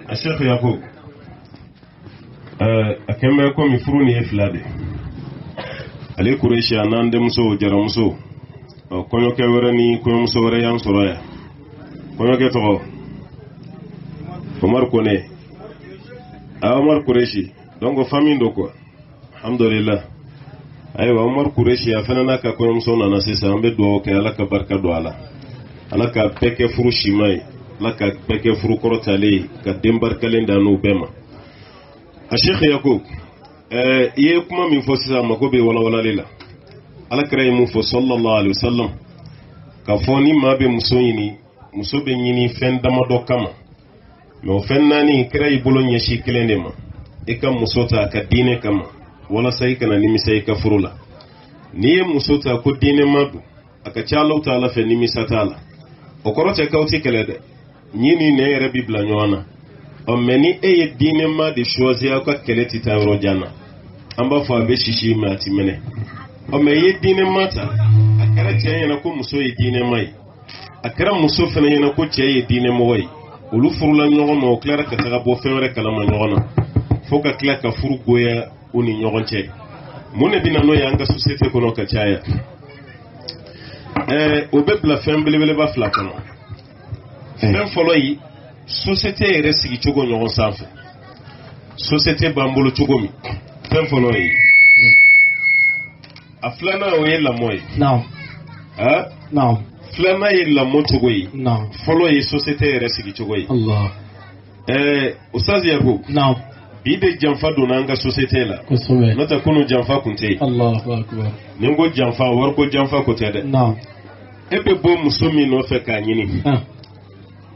a shekhe yakub a kɛn bɛ komi furu nin ye fila de ali kuresi a n'an denmuso jaramuso kɔɲɔkɛ wɛrɛ ni kɔɲɔmuso wɛrɛ y'an sɔrɔ yan kɔɲɔkɛ tɔgɔ omar kone a omar kuresi donc famille don quoi alhamdulillah ayiwa umaru kuresi a fana n'a ka kɔɲɔmuso nana sisan an bɛ dugawu kɛ ala ka barika don a la ala ka bɛɛ kɛ furu sima ye ala ka bɛɛ kɛ furu kɔrɔtalen ye ka den barikalen dan n'u bɛɛ ma a shekhe yakub ɛɛ i ye kuma min fɔ sisan a mago bɛ walawalali la ala kira ye mun fɔ sallallahu alaihi wasallam k'a fɔ ni maa bɛ muso ɲini muso bɛ ɲini fɛn damadɔ kama mɛ o fɛn naani kira y'i bolo ɲɛsi kelen de ma i ka muso ta a ka diinɛ kama walasa i kana nimisa i ka furu la n'i ye muso ta ko diinɛma don a ka ca alahu taala fɛ nimisa t'a la o kɔrɔ tɛ k'aw tɛ kɛlɛ dɛ ɲin ni nɛn yɛrɛ bi bila ɲɔgɔn na ɔ mais ni e ye diinɛma de choisir aw ka kɛlɛ tɛ taa yɔrɔ jan na an b'a fɔ a bɛ sisi mais a ti mɛnɛ ɔ mais n'i ye diinɛma ta a kɛra cɛ ɲɛna ko muso ye diinɛma ye a kɛra muso fana ɲɛna ko cɛ ye diinɛ mɔgɔ ye olu furula ɲɔgɔn ma o tilara ka taga bɔ fɛn wɛrɛ kalama ɲɔgɔn na fo ka tila ka furu goya u ni ɲɔgɔn cɛ mun de bɛna n'o ye an ka sosiyete kɔnɔ ka caya ɛɛ o bɛ bila fɛn belebeleba fila kɔnɔ fɛn fɔlɔ ye sosiyete yɛrɛ sigi cogo ɲɔgɔn sanfɛ sosiyete b'an bolo cogo min fɛn fɔlɔ ye a filanan o ye lamɔ ye naam ah, naam filanan ye lamɔ cogo ye naam fɔlɔ ye sosiyete yɛrɛ sigi cogo ye allah ɛɛ ustaz yakub naam bi de janfa donna an ka sosiyete la kosɛbɛ n'o tɛ kunu janfa kun tɛ yen allah akbar ni n ko janfa wariko janfa ko tɛ dɛ naam e bɛ bɔ muso min nɔfɛ k'a ɲini ah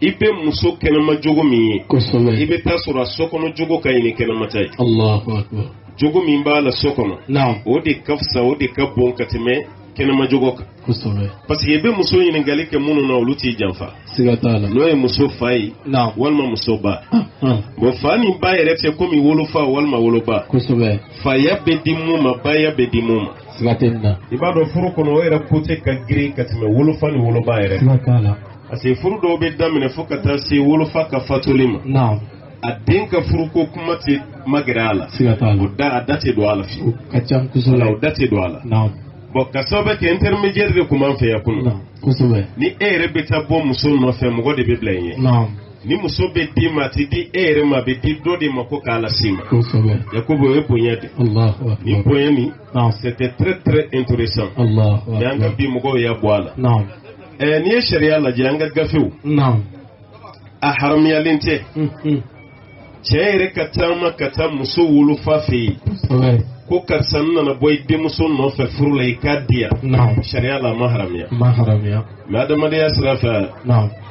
i bɛ muso kɛnɛma jogo min ye kosɛbɛ i bɛ taa sɔrɔ a so kɔnɔ jogo ka ɲi ni kɛnɛma ta ye Allahu akbar jogo min b'a la so kɔnɔ naam o de ka fisa o de ka bon ka tɛmɛ kɛnɛma jogo kan kosɛbɛ parce que i bɛ muso ɲininkali kɛ minnu na olu t'i janfa siga t'a la n'o ye muso fa ye naam walima muso ba ah, ah, bon fa ni ba yɛrɛ tɛ komi wolofa walima woloba kosɛbɛ faya bɛ di mun ma baya bɛ di mun ma siga tɛ nin na i b'a dɔn furu kɔnɔ o yɛrɛ côté ka girin ka tɛmɛ wolofa ni woloba yɛrɛ kan siga t'a la parce que furu dɔw bɛ daminɛ fo ka taa se wolofa ka fatuli ma naam a den ka furuko kuma tɛ magɛrɛ a la siga t'a la o da a da tɛ don a la fiyewu o ka ca kosɛbɛ wala o da tɛ don a la naam bon ka sababu kɛ intermédiaire de kun b'an fɛ yan kunun naam kosɛbɛ ni e yɛrɛ bɛ taa bɔ muso nɔfɛ mɔgɔ de bɛ bila i ɲɛ naam ni muso bɛ d'i ma a tɛ di e yɛrɛ ma a bɛ di dɔ de ma ko k'a las'i ma kosɛbɛ yakubu o ye bonya de ye. alahu nin akbar bonya nin naam c'était très très intéressant allahu mais an ka akbar bi mɔgɔw y'a bɔ a la naam ɛɛ n'i ye sariya lajɛ an ka gafew a haramuyalen tɛ cɛ yɛrɛ ka taama ka taa muso wolofa fɛ yen ko karisa n nana bɔ i denmuso nɔfɛ furu la i k'a di yan sariya la a ma haramuya mais adamadenya sira fɛ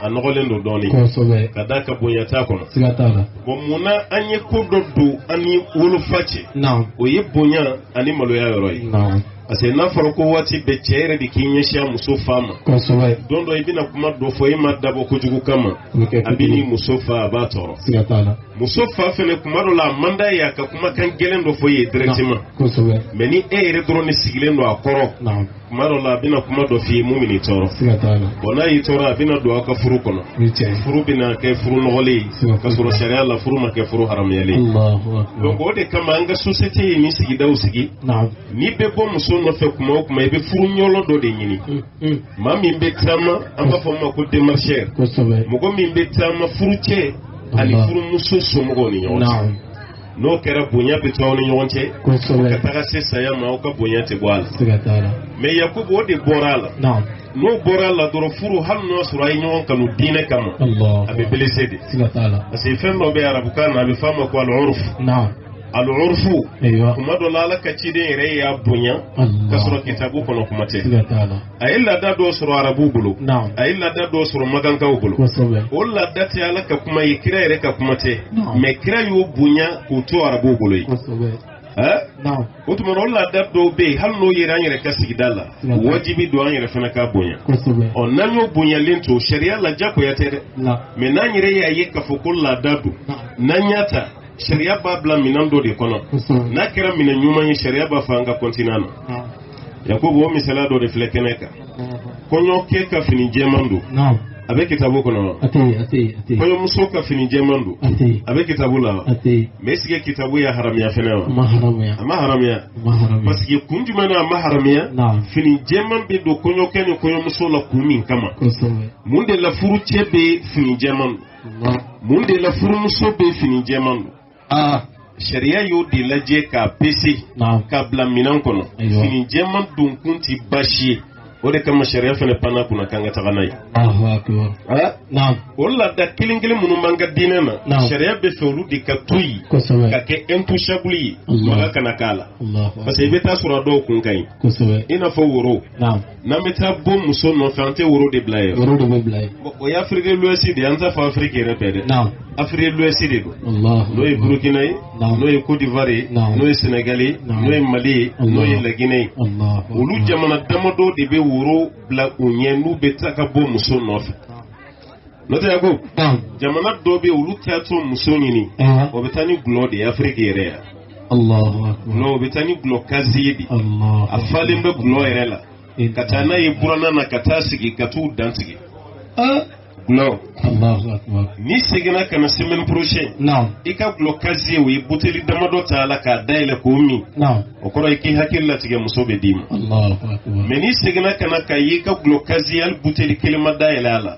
a nɔgɔlen don dɔɔnin ka d'a kan bonya t'a kɔnɔ bon mun na an ye ko dɔ don an ni wolofa cɛ o ye bonya ani maloya yɔrɔ ye parce que n'a fɔra ko waati bɛɛ cɛ yɛrɛ de k'i ɲɛsin a muso fa ma kosɛbɛ don dɔ i bɛna kuma dɔ fɔ e m'a dabɔ kojugu kama o bɛ kɛ a bɛ ni muso fa a b'a tɔɔrɔ siga t'a la muso fa fɛnɛ kuma dɔ la a man d'a ye a ka kumakan gɛlɛn dɔ fɔ i ye directement kosɛbɛ mais ni e yɛrɛ dɔrɔn de sigilen don a kɔrɔ naam kuma dɔ la a bɛna kuma dɔ f'i ye mun bɛn'i tɔɔrɔ siga t'a la bon n'a y'i tɔɔrɔ a bɛna don aw ka furu kɔnɔ o ye tiɲɛ ye furu bɛna kɛ furu nɔgɔlen ye Siga k'a sɔrɔ sariya la furu ma kɛ furu haramuyalen ye Allahu akbar donc o de kama an ka société ye nin sigidaw sigi naam n'i bɛ bɔ muso nɔfɛ kuma o kuma i bɛ furu ɲɔlɔ dɔ de ɲini maa min bɛ taama an b'a fɔ o ma ko démarcheur mɔgɔ min bɛ taama furucɛ ani furumuso somɔgɔw ni ɲɔgɔn cɛ n'o kɛra bonya bɛ to aw ni ɲɔgɔn cɛ ka taga se saya ma aw ka bonya tɛ bɔ a la mais yakubu o de bɔra a la n'o bɔra a la dɔrɔn furu hali n'o sɔrɔ a ye ɲɔgɔn kanu diinɛ kama a bɛ blessé dɛ parce que fɛn dɔ bɛ arabukan na a bɛ f'a ma ko al'urfu al'urfu kuma dɔ la ala ka ciden yɛrɛ y'a bonya ka sɔrɔ kitabu kɔnɔ kuma tɛ a ye laada dɔ sɔrɔ arabuw bolo a ye laada dɔw sɔrɔ makankaw bolo o laada tɛ ala ka kuma ye kira yɛrɛ ka kuma tɛ mais kira y'o bonya k'o to arabuw bolo yen o tuma o laada dɔw bɛ yen hali n'o yera an yɛrɛ ka sigida la wajibi don an yɛrɛ fana k'a bonya ɔ n'an y'o bonyalen to sariya la jagoya tɛ dɛ mais n'an yɛrɛ y'a ye k'a fɔ ko laada don n'an y'a ta sariya b'a bila minɛn dɔ de kɔnɔ n'a kɛra minɛn ɲuman ye sariya b'a fɔ an ka continuer na yakubu o misaliya dɔ de filɛ kɛnɛ kan kɔɲɔkɛ ka fini jɛman don a bɛ kitabu kɔnɔ wa kɔɲɔmuso ka fini jɛman don a bɛ kitabu la wa mais est-ce que kitabu y'a haramiya fɛnɛ wa a ma haramiya parce que kun jumɛn na a ma haramiya fini jɛman bɛ don kɔɲɔkɛ ni kɔɲɔmuso la kun min kama mun de la furucɛ bɛ fini jɛman don mun de la furumuso bɛ fini jɛman don ah. sariya y'o de lajɛ k'a pese k'a bila minɛn kɔnɔ fini jɛman donkun ti baasi ye o de kama sariya fɛnɛ panna a kunna k'an ka taga n'a ye ah, o laada kelen kelen minnu b'an ka diinɛ na sariya b'a fɛ olu de ka to yen ka kɛ intouchable ye maga kana k'a la parce que i bɛ t'a sɔrɔ a dɔw kun ka ɲi i n'a fɔ woro n'an bɛ taa bɔ muso nɔfɛ an tɛ woro de bila yen. woro de bɛ bila yen. o ye afrique de l'ouest de ye an t'a fɔ afiriki yɛrɛ bɛɛ dɛ. naam afrique de l'ouest de don. n'o ye burukina ye. naam n'o ye kodiwari ye. naam n'o ye sɛnɛgali ye. naam n'o ye mali ye. n'o ye laginɛ ye. olu jamana damadɔ de bɛ woro bila u ɲɛ n'u bɛ taa ka bɔ muso nɔfɛ. n'o tɛ yakubu jamana dɔ bɛ olu taatɔ muso ɲini o bɛ taa ni gulɔ de ye afiriki yɛrɛ yan o bɛ taa ni gulɔ kaziye de a falen bɛ gulɔ yɛrɛ la ka taa n'a ye buranna na ka taa sigi ka t'u dantigɛ gulɔ n'i seginna ka na semaine prochaine i ka gulɔ kaziye u ye buteli damadɔ ta a la k'a dayɛlɛ k'o min o kɔrɔ ye k'i hakili latigɛ muso bɛ d'i ma mɛ n'i seginna ka na k'a ye i ka gulɔ kaziye hali buteli kelen ma dayɛlɛ a la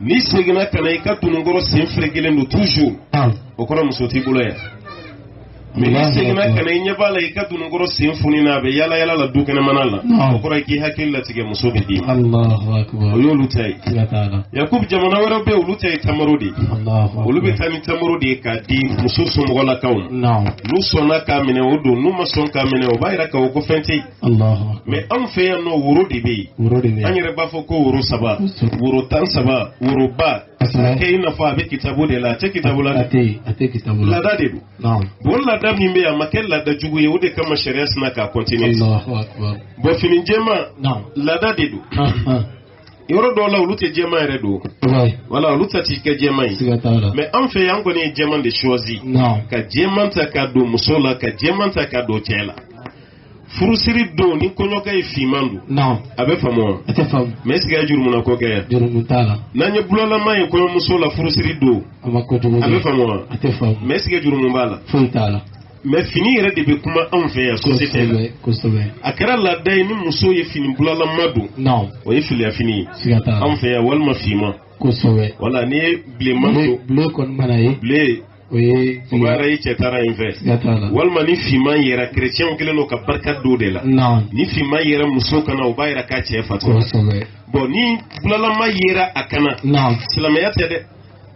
n'i seginna ka na i ka dununkɔrɔ sen ferekelen don toujours naam o kɔrɔ muso t'i bolo yan Allahu akbar. mɛ n'i seginna ka na i ɲɛ b'a la i ka dununkɔrɔ sen fonina a bɛ yala yala la du kɛnɛmana la Naam. o kɔrɔ ye k'i hakili latigɛ muso bɛ d'i ma allahu akbar o y'olu ta ye siga t'a la yakubu jamana wɛrɛw bɛ yen olu ta ye tamaro de ye allahu akbar olu bɛ taa ni tamaro de ye k'a di muso somɔgɔlakaw ma naam n'u sɔnna k'a minɛ o don n'u ma sɔn k'a minɛ o b'a jira k'a fɔ ko fɛn tɛ yen mɛ anw fɛ yan nɔ woro de bɛ yen an yɛrɛ b'a fɔ ko woro saba woro tan saba woroba kɛ i n'a fɔ a bɛ kitabu de la a tɛ kitabu la laada de don bon laada min bɛ yan a ma kɛ laada jugu ye o de kama sariya sinna k'a continuer bɔn fini jɛma laada de don yɔrɔ dɔw la olu tɛ jɛman yɛrɛ don wala olu ta ti kɛ jɛman ye mɛ an fɛ yan kɔni ye jɛman de choisi ka jɛman ta ka don muso la ka jɛman ta ka don cɛ la furusiri don ni kɔɲɔkɛ ye finman don. naamu. a bɛ faamu wa. a tɛ faamu. mɛ est-ce que a ye jurumuna ko kɛ yan. jurumu t'a la. n'an ye bulalama ye kɔɲɔmuso la furusiri don. a ma ko jugu kɛ. a bɛ faamu wa. a tɛ faamu. mɛ est-ce que jurumu b'a la. foyi t'a la. mɛ fini yɛrɛ de bɛ kuma anw fɛ yan sosiyete la. kosɛbɛ kosɛbɛ. a kɛra laada ye ni muso ye fini bulalama don. naamu. o ye filiya fini ye. siga t'a la. anw fɛ yan walima finman. kosɛbɛ. wala n'i ye bilenman don. ble ble kɔni mana ye. ble o ye o b'a yira i cɛ taara yen fɛ siga t'a la walima ni finman yera kerecɛnw kɛlen don ka barika don de la naam ni finman yera muso kan na o b'a yira k'a cɛ fatura kosɛbɛ bɔn ni bulalama yera a kan na naam silamɛya tɛ dɛ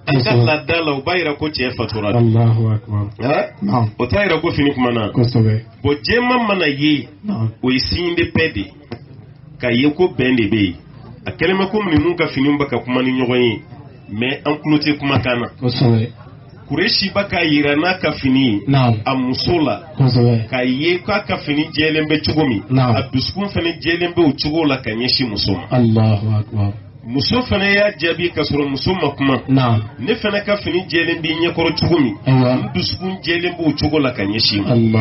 Kosɛbɛ. an ka laada la o b'a yira ko cɛ fatura de allahu akbar Ha? naam o t'a yira ko fini kumana kosɛbɛ bɔn jɛman mana ye naam o ye signe de paix de ye k'a ye ko bɛn de bɛ yen a kɛlen bɛ komi ninnu ka finiw bɛ ka kuma ni ɲɔgɔn ye mɛ an tulo tɛ kumakan na kuresi bɛ k'a yira n'a ka fini a muso la k'a ye k'a ka fini jɛlen bɛ cogo min a dusukun fana jɛlen bɛ o cogo la ka ɲɛsin muso ma muso fana y'a jaabi ka sɔrɔ muso ma kuma ne fana ka fini jɛlen b'i ɲɛkɔrɔ cogo min n dusukun jɛlen b'o cogo la ka ɲɛsin i ma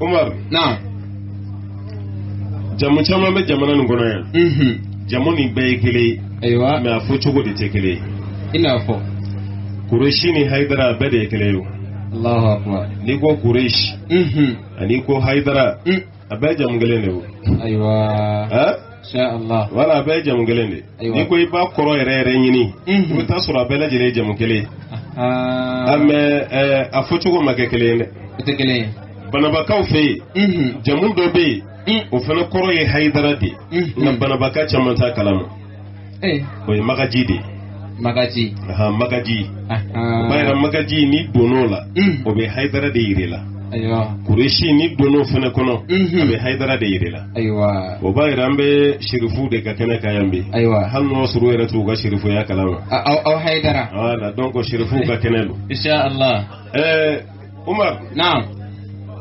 Umar naam jamu caman bɛ jamana nin kɔnɔ yan jamu nin bɛɛ ye kelen ye ayiwa mais a fɔ cogo de tɛ kelen ye i n'a fɔ kuresi ni hayidara bɛɛ de ye kelen ye n'i ko kuresi ani ko hayidara a bɛɛ jamu kelen de wo ayiwa insha allah voilà a bɛɛ jamu kelen de Ayiwa. n'i ko i b'a kɔrɔ yɛrɛ yɛrɛ ɲini i Mhm. bɛ taa sɔrɔ a bɛɛ lajɛlen ye jamu kelen ye aa mais ɛɛ a fɔcogo ma kɛ kelen ye dɛ o tɛ kelen ye banabakaw fɛ yen Mhm. jamu dɔ bɛ yen Mm. o fana kɔrɔ ye hayidara de ye Mhm. nka banabaka caman t'a kalama eh. o ye magaji de ye magaji ahan magaji ahan o b'a yira magaji n'i donn'o la Mm. o bɛ hayidara de yir'i la ayiwa kuresi n'i donn'o fana kɔnɔ Mhm. a bɛ hayidara de yir'i la ayiwa o b'a yira an bɛ serifu de ka kɛnɛ kan yan bi ayiwa hali n'o sɔr'u yɛrɛ t'u ka serifuya kalama A- aw aw hayidara voilà donc serifuw ka kɛnɛ don insha allah ɛɛ Umar naam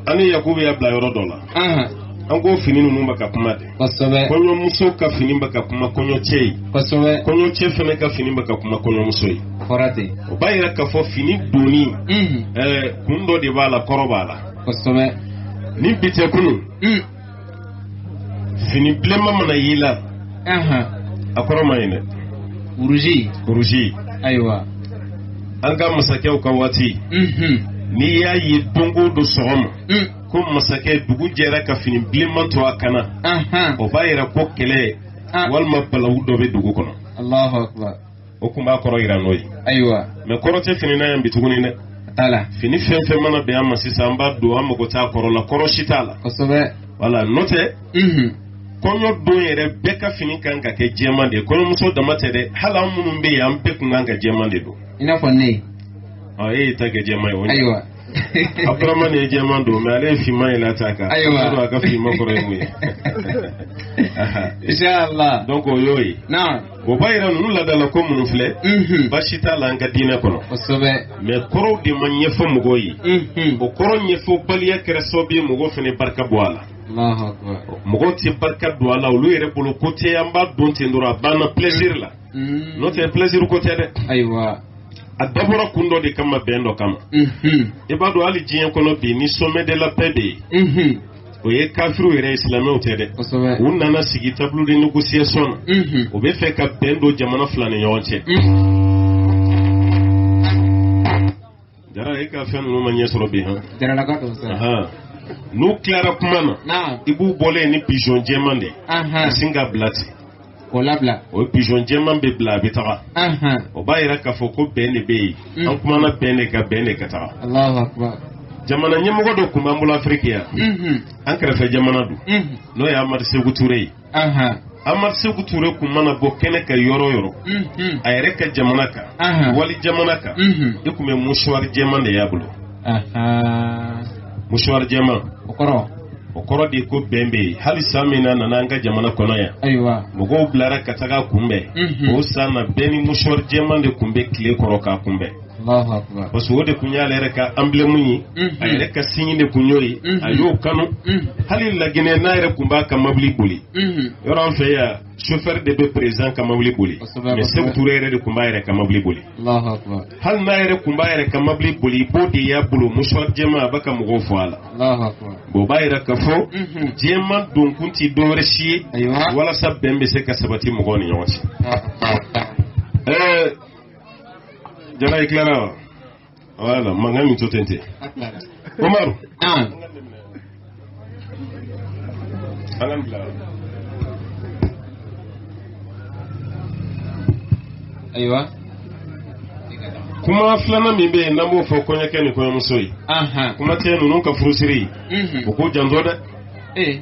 an ni Yakubu y'a bila yɔrɔ dɔ la ahan an ko fini ninnu bɛ ka kuma de kosɛbɛ kɔɲɔmuso ka fini bɛ ka kuma kɔɲɔcɛ ye kosɛbɛ kɔɲɔcɛ fana ka fini bɛ ka kuma kɔɲɔmuso ye o fɔra ten o b'a yira k'a fɔ fini donni unhun ɛɛ kun dɔ de b'a la kɔrɔ b'a la kosɛbɛ ni bi tɛ kunun un fini bilenma mana y'i la Ahan. a kɔrɔ man ɲi dɛ Rouge. rouge Ayiwa. an ka masakɛw ka waati Mhm. n'i y'a ye don o don sɔgɔma Mm. ko masakɛ dugu jɛra ka fini bilenma to a kan na Ahan. o b'a yira ko kɛlɛ Ah. walima balawu dɔ bɛ dugu kɔnɔ Allahu akbar. o tun b'a kɔrɔ yira n'o ye ayiwa mais kɔrɔ tɛ fini na yan bi tuguni dɛ t'a la fini fɛn fɛn mana bɛn an ma sisan an b'a don an mago t'a kɔrɔ la kɔrɔ si t'a la kosɛbɛ voilà n'o tɛ kɔɲɔ don yɛrɛ bɛɛ ka fini kan ka kɛ jɛman de ye kɔɲɔmuso dama tɛ dɛ hali an minnu bɛ yen an bɛɛ kun kan ka jɛman de don i n'a fɔ ne ɔ e y'i ta kɛ jɛman ye o ayiwa Abdramani ye jɛman don mais ale ye finman yɛlɛ a ta kan ayiwa a ka finman kɔrɔ ye mun ye inshallah donc o y'o ye naamu O b'a yira ninnu laadala ko minnu filɛ baasi t'a la an ka diinɛ kɔnɔ mais kɔrɔw de ma ɲɛfɔ mɔgɔw ye o kɔrɔ ɲɛfɔbaliya kɛra sababu ye mɔgɔ fana barika bɔ a la mɔgɔ tɛ barika don a la olu yɛrɛ bolo ko tɛ an b'a don ten dɔrɔn a banna plaisir la n'o tɛ plaisir ko tɛ dɛ ayiwa a dabɔra kun dɔ de kama bɛn dɔ kama i b'a dɔn hali diɲɛ kɔnɔ bi ni sommet de la paix bɛ yen o ye kafiriw yɛrɛ ye silamɛw tɛ dɛ u nana sigi table de négociation na mhm. u bɛ fɛ ka bɛn don jamana fila ni ɲɔgɔn cɛ mhm. jara e ka fɛn ninnu ma ɲɛ sɔrɔ bi han n'u tilara kuma na i b'u bɔlen ye ni pigeon jɛman de ye ka sin k'a bila ten k'o labila o pigeon jɛman bɛ bila a bɛ taga ahan o b'a yira k'a fɔ ko bɛn de bɛ yen Mm. an kumana bɛn de kan bɛn de ka taga alahu akubar jamana ɲɛmɔgɔ dɔ kun b'an bolo afiriki yan mhm an kɛrɛfɛ jamana don mhm n'o ye amadu seku ture ye ahan amadu seku ture kun mana bɔ kɛnɛ kan yɔrɔ o yɔrɔ mhm a yɛrɛ ka jamana kan Ahan. wali jamana kan mhm i kun bɛ mouchoir jɛman de y'a bolo mouchoir jɛman o kɔrɔ o kɔrɔ de ko bɛn bɛ yen hali san min na nana an ka jamana kɔnɔ yan ayiwa mɔgɔw bilara ka taga kunbɛn mhm. o san na bɛɛ ni mouchoir jɛman de kun bɛ tile kɔrɔ k'a kunbɛn parce que o de kun y'ale yɛrɛ ka emblème ye mhm. a yɛrɛ ka signe de kun y'o ye mhm. a y'o kanu hali laginɛ n'a yɛrɛ kun b'a ka mabili boli yɔrɔ an fɛ yan chauffeur de bɛ président ka mobili boli mais Seku Ture yɛrɛ de kun b'a yɛrɛ ka mobili boli hali n'a yɛrɛ kun b'a yɛrɛ ka mobili boli i b'o de y'a bolo mouchoir jɛman a bɛ ka mɔgɔw fo a la bon o b'a yira k'a fɔ mhm. jɛman donkun tɛ dɔwɛrɛ si ye walasa bɛn bɛ se ka sabati mɔgɔw ni ɲɔgɔn cɛ ɛɛ jara i tilara wa voilà mankan min to ten ten umaru Naam. Ayiwa. kuma filanan min bɛ yen n'an b'o fɔ kɔɲɔkɛ ni kɔɲɔmuso ye Ahan. kuma tɛ ninnu ka furusiri Mhm. u k'u janto dɛ Ee.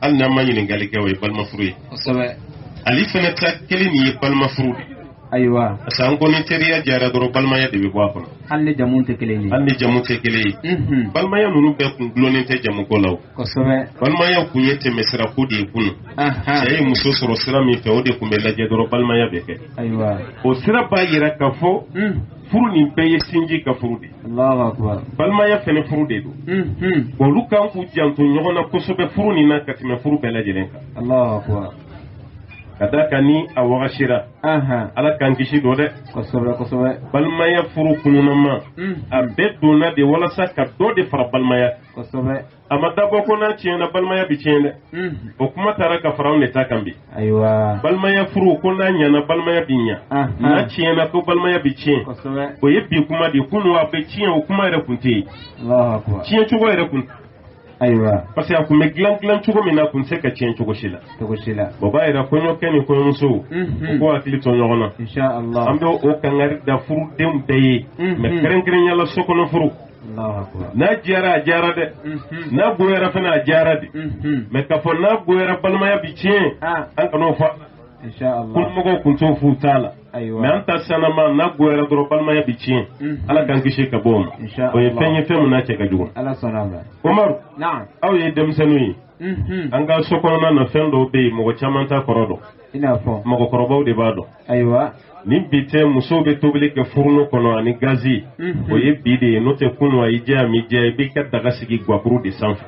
hali n'an ma ɲininkali kɛ o ye balimafuru ye ali fɛnɛ ta kelen nin ye balimafuru de ayiwa parce que an ko ni teriya jara dɔrɔn balimaya de bɛ bɔ a kɔnɔ hali ni jamu tɛ kelen ye hali ni jamu tɛ kelen ye mhm. balimaya ninnu bɛɛ kun dulonnen tɛ jamuko la o kosɛbɛ balimaya kun ye tɛmɛsira ko de ye kunu cɛ ye muso sɔrɔ sira min fɛ o de kun bɛ lajɛ dɔrɔn balimaya bɛ kɛ ayiwa o sira b'a yira k'a fɔ mhm. furu nin bɛɛ ye sinji ka furu de balimaya fɛnɛ furu de don bon olu kan k'u janto ɲɔgɔn na kosɛbɛ furu nin na ka tɛmɛ furu bɛɛ lajɛlen kan ka d'a kan ni a wagasira ala k'an kisi dɔ dɛ balimaya furu kununama a bɛɛ donna de walasa ka dɔ de fara balimaya a ma dabɔ ko n'a tiɲɛna balimaya bi tiɲɛ dɛ mhm. o kuma taara ka fara anw de ta kan bi ayiwa balimaya furu ko n'a ɲɛna balimaya bi ɲa n'a tiɲɛna ko balimaya bi tiɲɛ o ye bi kuma de ye kunun a bɛ tiɲɛ o kuma yɛrɛ kun tɛ yen tiɲɛ cogo yɛrɛ kun ayiwa parce que a kun bɛ dilan dilan cogo min na a kun tɛ se ka tiɲɛ cogo si la cogo si la o b'a yira kɔɲɔkɛ ni kɔɲɔmusow mhm. u k'u hakili to ɲɔgɔn na an bɛ o kangari da furudenw bɛɛ ye mhm. mais kɛrɛnkɛrɛnya la sokɔnɔ furu n'a diyara a diyara dɛ mhm. n'a goyara fɛnɛ a diyara de mhm. mais k'a fɔ n'a goyara balimaya bi tiɲɛ ah. an kan'o fɔ kunumɔgɔw kun t'o f'u ta la mais an ta sanama n'a goyara dɔrɔn balimaya bi tiɲɛ mhm. ala k'an kisi ka bɔ o ma o ye fɛn ye fɛn min n'a cɛ ka jugu umaru aw ye denmisɛnninw ye an ka so kɔnɔna na fɛn dɔw bɛ yen mɔgɔ caman t'a kɔrɔ dɔn i n'a fɔ mɔgɔkɔrɔbaw de b'a dɔn ayiwa ni bi tɛ musow bɛ tobili kɛ furunu kɔnɔ ani gazi mhm. o ye bi de ye n'o tɛ kunu a y'i diya a m'i diya i b'i ka daga sigi guwakuru de sanfɛ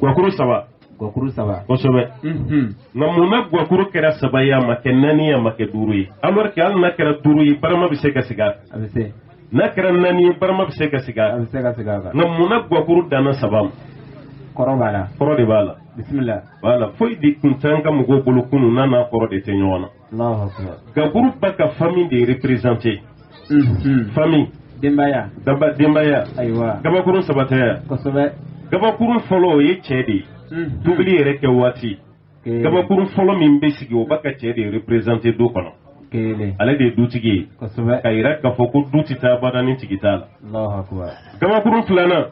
guwakuru saba guwakuru saba kosɛbɛ mhm. nka mun na guwakuru kɛra saba ye a ma kɛ naani ye a ma kɛ duuru ye alors que hali n'a kɛra duuru ye barama bɛ se ka sigi a kan n'a kɛra naani ye barama bɛ se ka sigi a bɛ se ka sigi a kan nka munna guwakuru danna saba ma kɔrɔ b'a la kɔrɔ de b'a la bisimila voilà foyi de kun t'an ka mɔgɔw bolo kunun n'a n'a kɔrɔ de tɛ ɲɔgɔn na alahu akubar gakuru ba ka famille de représenter Mhm. famille denbaya daba denbaya ayiwa gabakurun saba tɛ ya kosɛbɛ gabakurun fɔlɔ o ye cɛ de ye Mhm. tobili yɛrɛ kɛ waati gabakuru fɔlɔ min bɛ sigi o ba ka cɛ de représenter du kɔnɔ ale de ye dutigi ye ka yira k'a fɔ ko du tɛ taa bada ni tigi t'a la gabakuru filanan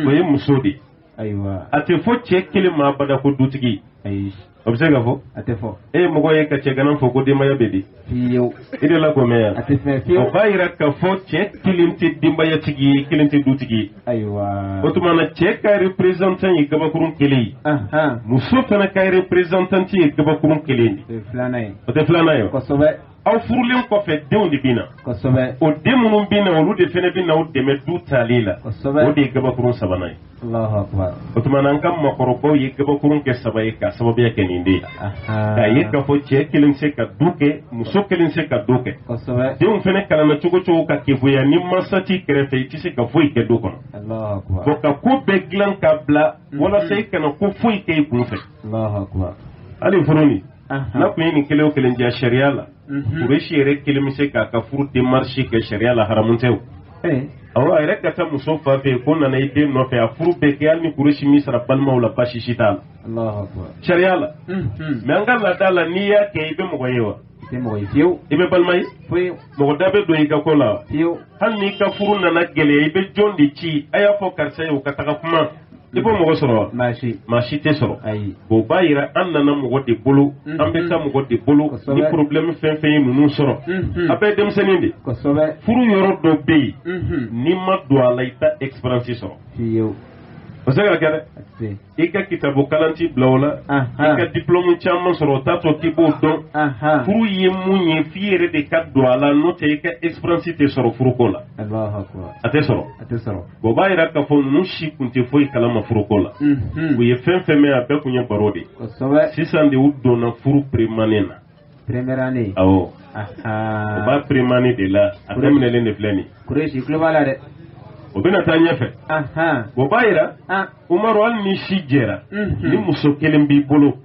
o ye muso de ye a tɛ fɔ cɛ kelen ma bada ko dutigi o bɛ se ka fɔ a tɛ fɔ e ye mɔgɔ ye ka cɛganan fo ko denbaya bɛ di fiyewu i dela k'o mɛn ya a tɛ fɛn o fiyewu b'a yira k'a fɔ cɛ kelen tɛ denbayatigi ye kelen tɛ dutigi ye ayiwa o tuma na cɛ ka représentant ye gabakurun kelen ye ahan muso fana ka représentant ye gabakurun kelen de o ye filanan ye o tɛ filanan ye wa? kosɛbɛ aw furulen kɔfɛ denw de bɛ na kosɛbɛ o den minnu bɛ na olu de fana bɛ na aw dɛmɛ du taali la kosɛbɛ o de ye gabakurun sabanan ye o tuma na an ka makɔrɔbaw ye gabakurun kɛ saba ye k'a sababuya kɛ nin de ye k'a ye k'a fɔ cɛ kelen se ka du kɛ muso kelen se ka du kɛ denw fana kalanna cogo cogo ka keguya ni mansa t'i kɛrɛfɛ i tɛ se ka foyi kɛ du kɔnɔ bon ka ko bɛɛ dilan k'a bila mhm. walasa i kana ko foyi kɛ i kun fɛ hali furu nin n'a kun ye nin kelen o kelen diya sariya la Kureshi mhm. yɛrɛ kelen bɛ se k'a ka furu démarche kɛ sariya la haramu tɛ o awɔ a yɛrɛ ka taa muso fa fɛ ko n nana i den nɔfɛ a furu bɛɛ kɛ hali ni Kureshi m'i sara balimaw la baasi si t'a la sariya la mais an ka laada la n'i y'a kɛ i bɛ mɔgɔ ye wa tɛ mɔgɔ ye fiyewu i bɛ balima ye foyi mɔgɔ da bɛ don i ka ko la fiyewu hali n'i ka furu nana gɛlɛya i bɛ jɔn de ci a y'a fɔ karisa ye o ka taga kuma i b'o mɔgɔ sɔrɔ wa maa si maa si tɛ sɔrɔ ayi o b'a yira an nana mɔgɔ de bolo mhm. an bɛ taa mɔgɔ de bolo ni problème fɛn fɛn ye ninnu sɔrɔ mhm. a bɛɛ denmisɛnnin de kosɛbɛ furu yɔrɔ dɔ bɛ yen mhm. n'i ma don a la i tɛ expérience sɔrɔ fiyewu o se ka kɛ dɛ i ka kitabu kalan t'i bila o la i ka diplôme caman sɔrɔ o t'a to k'i b'o dɔn furu ye mun ye f'i yɛrɛ de ka don a la n'o tɛ i ka expérience tɛ sɔrɔ furuko la a tɛ sɔrɔ o b'a yira k'a fɔ ninnu si kun tɛ foyi kalama furuko la u ye fɛn fɛn mɛn a bɛɛ kun ye baro de ye sisan de u donna furu première année na première année awɔ o b'a première année de la a daminɛlen de filɛ nin kuresi tulo b'a la dɛ o bɛna taa ɲɛfɛ o b'a yira Umaru hali n'i si jɛra ni muso kelen b'i bolo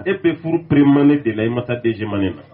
e bɛ furu première année de la i ma taa deuxième année na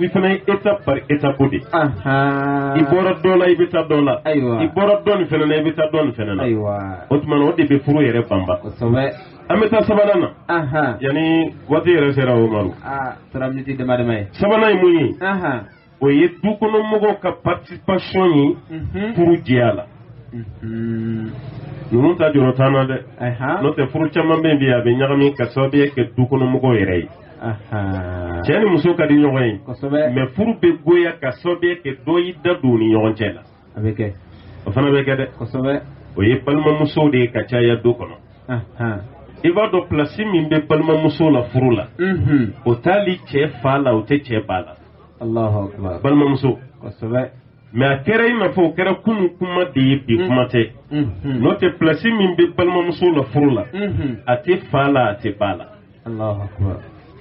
i fana ye étape par étape de ye. Ahan. i bɔra dɔ la i bɛ taa dɔ la. Ayiwa. i bɔra dɔ nin fana na i bɛ taa dɔ nin fana na. Ayiwa. o tuma na o de bɛ furu yɛrɛ banba. Kosɛbɛ. an bɛ taa sabanan na. Ahan. yanni waati yɛrɛ sera o ma. Aa sera miniti dama dama ye. sabanan ye mun ye. Ahan. o ye du kɔnɔ mɔgɔw ka participation ye Mhm. furu jɛya la. Mhm. ninnu ta jɔrɔ t'an na dɛ. Ahan. n'o tɛ furu caman bɛ yen bi a bɛ ɲagami ka sababuya kɛ du kɔnɔ mɔgɔw yɛrɛ ye. cɛ ni muso ka di ɲɔgɔn ye mais furu bɛ goya ka sababuya kɛ dɔ y'i da don u ni ɲɔgɔn cɛ la a bɛ kɛ o fana bɛ kɛ dɛ kosɛbɛ o ye balimamusow de ye ka caya du kɔnɔ i b'a dɔn plasi min bɛ balimamuso la furu la mhm. o t'ali cɛ fa la o tɛ cɛ ba la balimamuso kosɛbɛ mais a kɛra i n'a fɔ o kɛra kunun kuma de ye bi mm. kuma tɛ mm-hmm. n'o tɛ plasi min bɛ balimamuso la furu la mm-hmm. a tɛ fa la a tɛ ba la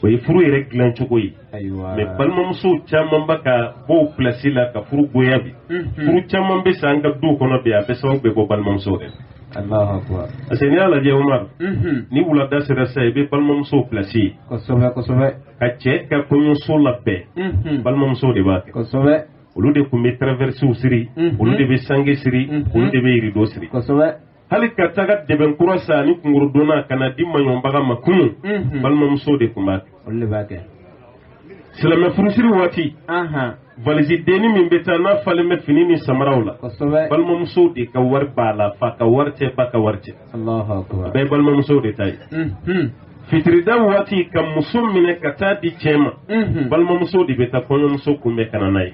o ye furu yɛrɛ dilan cogo ye mais balimamuso caman bɛ ka bɔ o plasi la ka furu goya bi furu caman bɛ sa an ka du kɔnɔ bi a bɛɛ sababu bɛ bɔ balimamuso de parce que n'i y'a lajɛ Umaru ni wulada sera sa i bɛ balimamuso plasi ye ka cɛ ka kɔɲɔso labɛn balimamuso de b'a kɛ olu de tun bɛ traversew siri olu de bɛ sange siri olu de bɛ yirido siri hali ka taga dɛbɛn kura san ani kunkɔrɔdonnan ka na di maɲɔnbaga ma kunun mhm. balimamuso de tun b'a kɛ silamɛ furusiri waati valisi denni min bɛ taa n'a falen bɛ fini ni samaraw la balimamuso de ka wari b'a la fa ka wari tɛ ba ka wari tɛ a bɛɛ ye balimamuso de ta ye mhm. fitirida waati ka muso minɛ ka taa di cɛ ma mhm. balimamuso de bɛ taa kɔɲɔmuso kunbɛn ka na n'a ye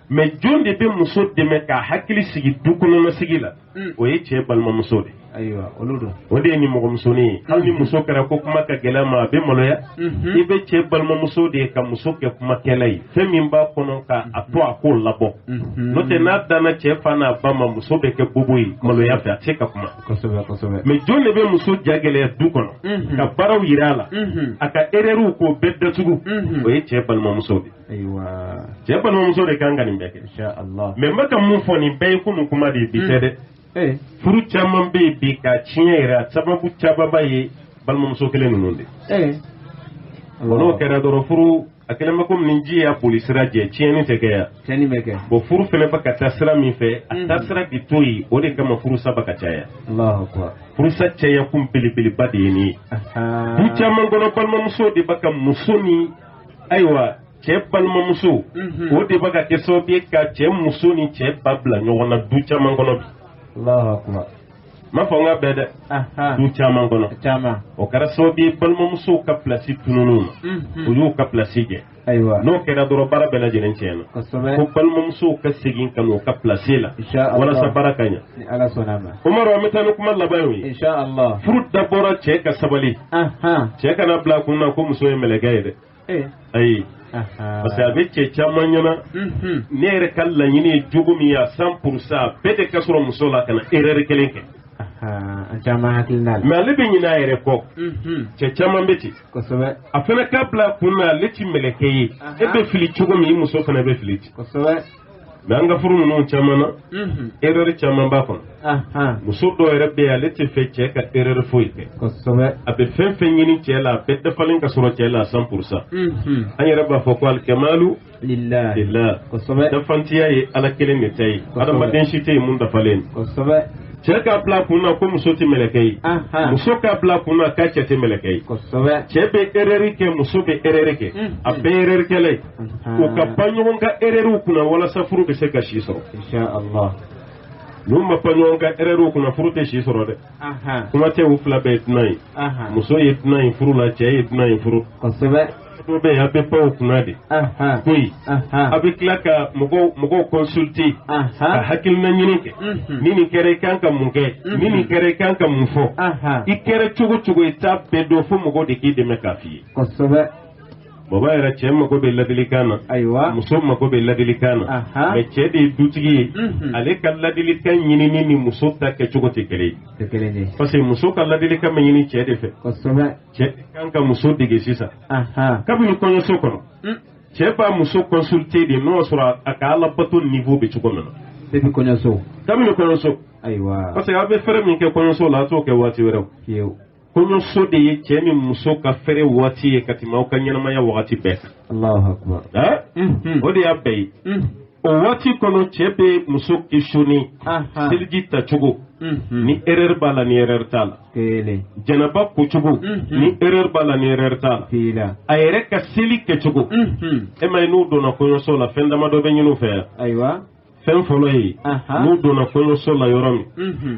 mais jɔn de bɛ muso dɛmɛ k'a hakili sigi du kɔnɔna sigi la hmm. o ye cɛ balimamuso de o de ye nimɔgɔmusonin ye hali ni muso kɛra ko kuma ka gɛlɛn a ma a bɛ maloya mhm. i bɛ cɛ balimamuso de ye ka muso kɛ kumakɛla ye fɛn min b'a kɔnɔ ka a to a k'o labɔ mhm. n'o tɛ n'a danna cɛ fa n'a ba ma muso bɛ kɛ bobo ye maloya fɛ a tɛ se ka kuma mais jɔn de bɛ muso ja gɛlɛya du kɔnɔ mhm. ka baaraw yira a la a ka erɛriw k'o bɛɛ datugu o ye cɛ balimamuso de ayiwa cɛ balimamuso de kan ka nin bɛɛ kɛ mais n bɛ ka mun fɔ nin bɛɛ ye kunun kuma de ye bi tɛ hmm. dɛ eh. furu caman bɛ yen bi ka tiɲɛ yɛrɛ a sababu camanba ye balimamuso kelen ninnu de ye. n'o kɛra dɔrɔn furu a kɛlen bɛ komi ni ji y'a boli sira jɛ tiɲɛni tɛ kɛ yan tiɲɛni bɛ kɛ bon furu fana bɛ ka taa sira min fɛ a taa sira bi to yen o de kama furusa bɛ ka caya furusa caya kun belebeleba de ye nin ye du caman kɔnɔ balimamuso de bɛ ka muso ni ayiwa cɛ balimamusow de bɛ ka kɛ sababu ye ka cɛ muso ni cɛ ba bila ɲɔgɔn na du caman kɔnɔ bi n m'a fɔ k'a bɛɛ dɛ du caman kɔnɔ o kɛra sababu ye balimamusow ka pilasi tununna u ma u y'u ka pilasi jɛ n'o kɛra dɔrɔn baara bɛɛ lajɛlen tiɲɛna fo balimamusow ka segin ka na u ka pilasi la walasa baara ka ɲɛ ni ala sɔnna a ma. umaru an bɛ taa ni kuma laban y'o ye. insha allah. furu dabɔra cɛ ka sabali. cɛ kana bila a kun na ko muso ye mɛlɛkɛ ye dɛ. Eh. ayi. parce que a bɛ cɛ caman ɲɛna. Mhm. ne yɛrɛ ka laɲini ye jogo min ye a cent pour cent bɛɛ de ka sɔrɔ muso la kana erreur kelen kɛ. an caman hakilina la. mais ale bɛ ɲinɛ a yɛrɛ kɔ. Mhm. cɛ caman bɛ ten. kosɛbɛ. a fana k'a bila a kun na ale ti mɛlɛkɛ ye. e bɛ fili cogo min i muso fana bɛ fili ten. kosɛbɛ. mais an ka furu ninnu caman na erreur caman b'a kɔnɔ muso dɔw yɛrɛ bɛ yen ale tɛ fɛ cɛ ka erreur foyi kɛ a bɛ fɛn fɛn ɲini cɛ la a bɛɛ dafalen ka sɔrɔ cɛ la cent pour cent an yɛrɛ b'a fɔ ko alikamalu lillahi dafantiya ye ala kelen de ta ye adamaden si tɛ yen mun dafalen cɛ k'a bila a kun na ko muso tɛ mɛlɛkɛ ye muso k'a bila a kun na k'a cɛ tɛ mɛlɛkɛ ye cɛ bɛ erreur kɛ muso bɛ erreur kɛ a bɛɛ erreur kɛla ye u ka pan ɲɔgɔn ka erreurs kunna walasa furu bɛ se ka si sɔrɔ n'u ma pan ɲɔgɔn ka erreurs kunna furu tɛ si sɔrɔ dɛ kuma tɛ u fila bɛɛ ye dunan ye muso ye dunan ye furu la cɛ ye dunan ye furu kosɛbɛ dɔ bɛ yen a bɛ pan u kunna de ko yen a bɛ tila ka mɔgɔw mɔgɔw consulter ka hakilina ɲini kɛ ni nin kɛra i kan ka mun kɛ ni nin kɛra i kan ka mun fɔ i kɛra cogo o cogo i t'a bɛɛ dɔn fo mɔgɔw de k'i dɛmɛ k'a f'i ye kosɛbɛ o b'a yira cɛ mago bɛ ladilikan na ayiwa muso mago bɛ ladilikan na Aha. mais cɛ de ye dutigi ye Mhm. ale ka ladilikan ɲinini ni muso ta kɛcogo tɛ kelen ye tɛ kelen de ye parce que muso ka ladilikan bɛ ɲini cɛ de fɛ kosɛbɛ cɛ de kan ka muso dege sisan aha kabini kɔɲɔso kɔnɔ Mm. cɛ b'a muso consulter de n'o y'a sɔrɔ a ka ala bato niveau bɛ cogo min na depuis kɔɲɔso kabini kɔɲɔso ayiwa parce que a bɛ fɛrɛ min kɛ kɔɲɔso la a t'o kɛ waati wɛrɛ o fiyewu kɔɲɔso de ye cɛ ni muso ka fɛrɛ waati ye ka tɛmɛ aw ka ɲɛnamaya wagati bɛɛ kan Alahu akbar. Hein? Mhm. o de y'a bɛɛ ye Mhm. o waati kɔnɔ cɛ bɛ muso questionner Aha. seliji tacogo Mhm. ni erreur b'a la ni erreur t'a la Kelen. janaba kocogo Mhm. ni erreur b'a la ni erreur t'a la T'a la. a yɛrɛ ka seli kɛcogo Mhm. e m'a ye n'u donna kɔɲɔso la fɛn damadɔ bɛ ɲini u fɛ yan Ayiwa. fɛn fɔlɔ ye Aha. n'u donna kɔɲɔso la yɔrɔ min Mhm.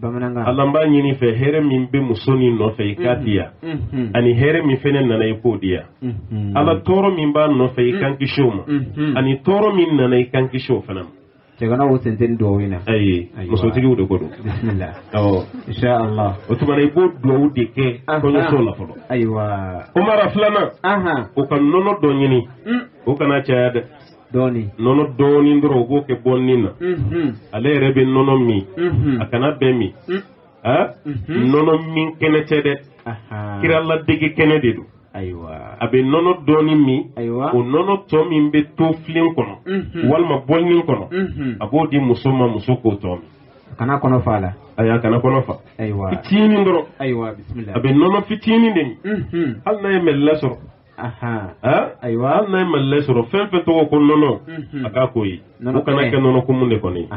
bamanankan Ala n b'a ɲini i fɛ hɛrɛ min bɛ muso nin nɔfɛ i k'a di yan Unhun. ani hɛrɛ min fɛnɛ nana i k'o di yan Unhun. ala tɔɔrɔ min b'a nɔfɛ i ka n kisi o ma Unhun. ani tɔɔrɔ min nana i ka n kisi o fana ma cɛgana o sen tɛ nin duwawu in na ayi Ayiwa. musotigiw de ko don bisimila awɔ insha allah o tuma na i b'o duwawu de kɛ Aha. kɔɲɔso la fɔlɔ ayiwa Umaru filanan ahan o ka nɔnɔ dɔ ɲini Mm. o kana caya dɛ dɔɔni nɔnɔ dɔɔni dɔrɔn u b'o kɛ bɔlinin na ale yɛrɛ bɛ nɔnɔ min a kan'a bɛɛ min nɔnɔ min kɛnɛ tɛ dɛ kira ladege kɛnɛ de don ayiwa a bɛ nɔnɔ dɔɔni min ayiwa o nɔnɔ tɔ min bɛ to filen kɔnɔ walima bɔlinin kɔnɔ a b'o di muso ma muso k'o tɔ min kana kɔnɔ fa la ayi a kana kɔnɔ fa ayiwa fitinin dɔrɔn ayiwa a bɛ nɔnɔ fitinin de min hali n'a ye Mali lait sɔrɔ ayiwa hali n'a ye Mali lait sɔrɔ fɛn fɛn tɔgɔ ko nɔnɔ mhm. a k'a k'o ye o kana kɛ nɔnɔ kumu de kɔni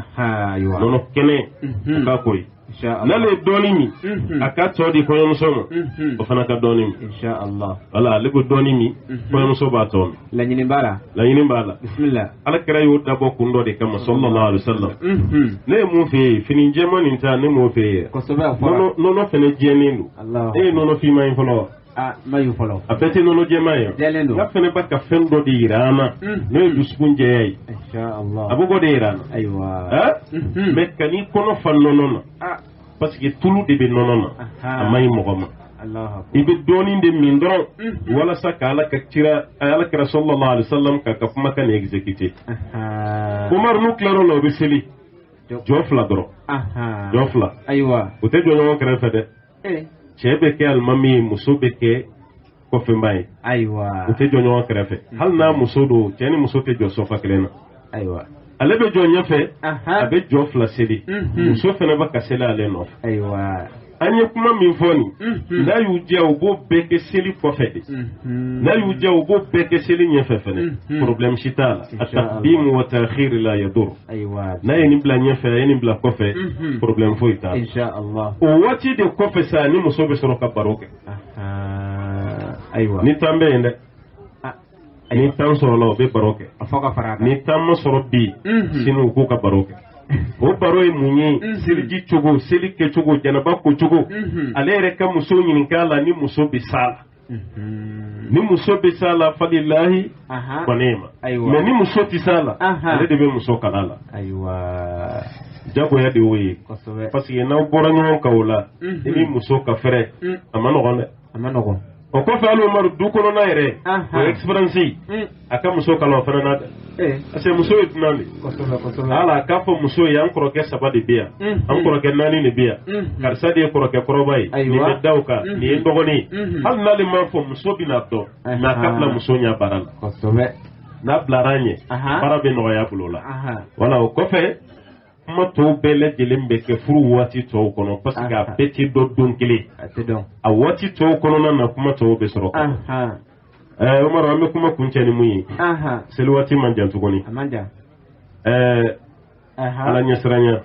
nɔnɔ kɛnɛ mhm. a k'a k'o ye n'ale ye dɔɔnin min mhm. a k'a tɔ di kɔɲɔmuso ma o fana ka dɔɔnin min voilà ale ko dɔɔnin min kɔɲɔmuso b'a tɔ min laɲini b'a la laɲini b'a la bisimila ala kira y'o dabɔ kun dɔ de kama sallallahu alaihi wasallam ne ye mun f'e ye fini jɛman nin ta ne m'o f'e ye nɔnɔ fɛnɛ jɛlen don e ye nɔnɔ finman ye fɔlɔ wa Ah, n m'a ye fɔlɔ a bɛɛ tɛ nɔnɔ jɛman ye jɛlen don nka fɛnɛ bɛ ka fɛn dɔ de yira an na hmm. n'o ye dusukun jɛya ye a bɛ k'o de yira an na ayiwa hmm. mais kan'i kɔnɔ fa nɔnɔ na ah. parce que tulu de bɛ nɔnɔ na a man ɲi mɔgɔ ma i bɛ dɔɔnin de min dɔrɔn hmm. walasa ka ala ka kira ala kira sallallahu alaihi wasallam k'a ka kumakan nin exécuter Umaru n'u tilara o la o bɛ seli jɔ fila dɔrɔn jɔ fila ayiwa o tɛ jɔ ɲɔgɔn kɛrɛfɛ dɛ eh. cɛ bɛ kɛ alimami ye muso bɛ kɛ kɔfɛbaa ye ayiwa u tɛ jɔ ɲɔgɔn kɛrɛfɛ mm. hali n'a muso don cɛ ni muso tɛ jɔ sɔfa kelen na ayiwa ale bɛ jɔ ɲɛfɛ a bɛ jɔ fila seli mm-hmm. muso fana bɛ ka seli ale nɔfɛ ayiwa an ye kuma min fɔ nin mm-hmm. n'a y'u diya u b'o bɛɛ kɛ seli kɔfɛ de mm-hmm. n'a y'u diya u b'o bɛɛ kɛ seli ɲɛfɛ fana problème si t'a la at-taqdim wa ta'khir la yadur Ayiwa n'a ye nin bila ɲɛfɛ a ye nin bila kɔfɛ problème foyi t'a o waati de kɔfɛ sa ni muso bɛ sɔrɔ ka baro kɛ ayiwa ni tan bɛ yen dɛ ni tan sɔrɔla o bɛ baro kɛ a fɔ ka fara ni tan ma sɔrɔ bi sini u k'u ka baro kɛ o baro ye mun ye seliji cogo seli kɛcogo janaba kocogo ale yɛrɛ ka muso ɲininka a la ni muso bɛ s'a la ni muso bɛ s'a la fa lillahi mais ni muso tɛ s'a la ale de bɛ muso kalan a la ayiwa jagoya de y'o ye parce que n'aw bɔra ɲɔgɔn kan o la i ni muso ka fɛrɛ a man nɔgɔn dɛ a man nɔgɔn o kɔfɛ hali Umaru du kɔnɔna yɛrɛ o expérience a ka muso kalan o fana na dɛ eh. parce que muso ye dunan de ye a k'a fɔ muso ye an kɔrɔkɛ saba de bɛ yan mm, an mm. kɔrɔkɛ naani de bɛ yan mm, karisa de ye kɔrɔkɛ kɔrɔba ye nin bɛ da o kan nin ye dɔgɔnin ye hali n'ale m'a fɔ muso bɛn'a dɔn mais a ka bila muso ɲɛ baara la n'a bilara a ɲɛ baara bɛ nɔgɔya a bolo la wala o kɔfɛ kuma tɔw bɛɛ lajɛlen bɛ kɛ furu waati tɔw kɔnɔ parce que a bɛɛ tɛ dɔn don kelen a waati tɔw kɔnɔna na kuma tɔw bɛ sɔrɔ ɛɛ Umaru an bɛ kuma kuncɛ ni mun ye seli waati man jan tuguni ɛɛ ala ɲɛsiranya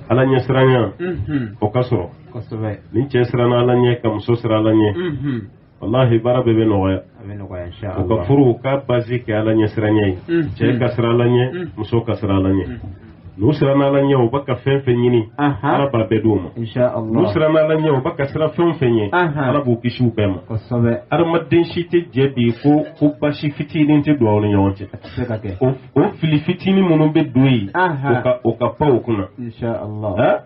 ala ɲɛsiranya mhm. o ka sɔrɔ ni cɛ siranna ala ɲɛ ka muso siran ala ɲɛ mhm. walahi baara bɛɛ bɛ nɔgɔya u ka furu u k'a base kɛ ala ɲɛsiranya ye mhm. cɛ ka siran ala ɲɛ muso ka siran ala ɲɛ n'u siranna ala ɲɛ u bɛ ka fɛn fɛn ɲini ala b'a bɛɛ d'u ma n'u siranna ala ɲɛ u bɛ ka siran fɛn o fɛn ɲɛ ala b'u kisi o bɛɛ ma adamaden si tɛ jɛ bi ko ko baasi fitinin tɛ don aw ni ɲɔgɔn cɛ o fili fitinin minnu bɛ don yen u ka pan o kunna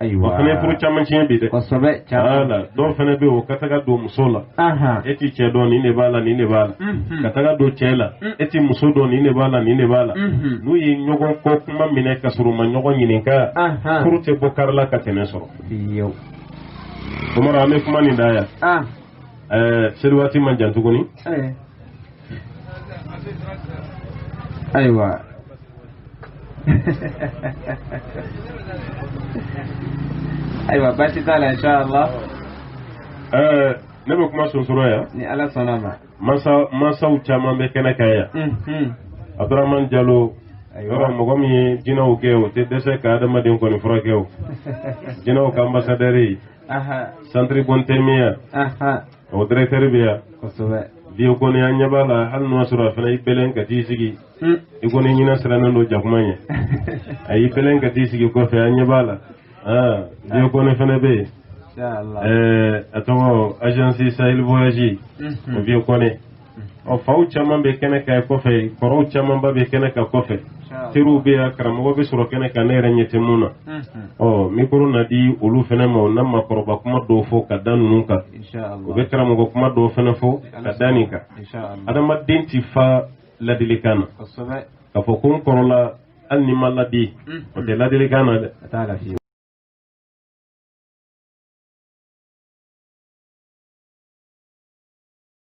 ayiwa o fana ye furu caman tiɲɛ bi dɛ kosɛbɛ caman la dɔw fana bɛ yen u ka taga don muso la e t'i cɛ dɔn nin de b'a la nin de b'a la mhm. ka taga don cɛ la mhm. e t'i muso dɔn nin de b'a la nin de b'a la mhm. n'u ye ɲɔgɔn kɔ kuma minɛ ka sɔrɔ u ma ɲɔgɔn ɲininka furu tɛ bɔ kari la ka tɛmɛ sɔrɔ Umaru an bɛ kuma nin da yan seliwaati man jan tuguni ayiwa ayiwa baasi t'a la insha Allah ɛɛ ne bɛ kuma sonsoro yan ni ala sɔnna a ma masa masaw caman bɛ kɛnɛ kan yan Mhm. abdurahman jalo yɔrɔ mɔgɔ min ye jinɛw gɛn o tɛ dɛsɛ ka adamaden kɔni furakɛ o jinɛw ka ambassadeur aha centre Bun Taymiya aha O directeur bɛ yan. Kosɛbɛ. Vieux Kone an ɲɛ b'a la hali n'o y'a sɔrɔ a fana y'i bɛlɛn ka t'i sigi. Un. I ko ni ɲinɛ sirannen don jakuma ɲɛ. A y'i bɛlɛn ka t'i sigi kɔfɛ an ɲɛ b'a la. Aa Vieux Kone fana bɛ yen. Ɛɛ a tɔgɔ agence Sahel voyage. Unhun. O Vieux Kone. ɔ faw caman bɛ kɛnɛ kan kɔfɛ kɔrɔw camanba bɛ kɛnɛ kan kɔfɛ teriw bɛ yan karamɔgɔ bɛ sɔrɔ kɛnɛ kan ne yɛrɛ ɲɛ tɛ min na ɔ mikoro na di olu fana ma u na makɔrɔba kuma dɔw fɔ ka da ninnu kan u bɛ karamɔgɔ kuma dɔw fana fɔ ka da nin kan adamaden tɛ fa ladilikan na k'a fɔ ko n kɔrɔla hali ni n ma ladi o tɛ ladilikan na dɛ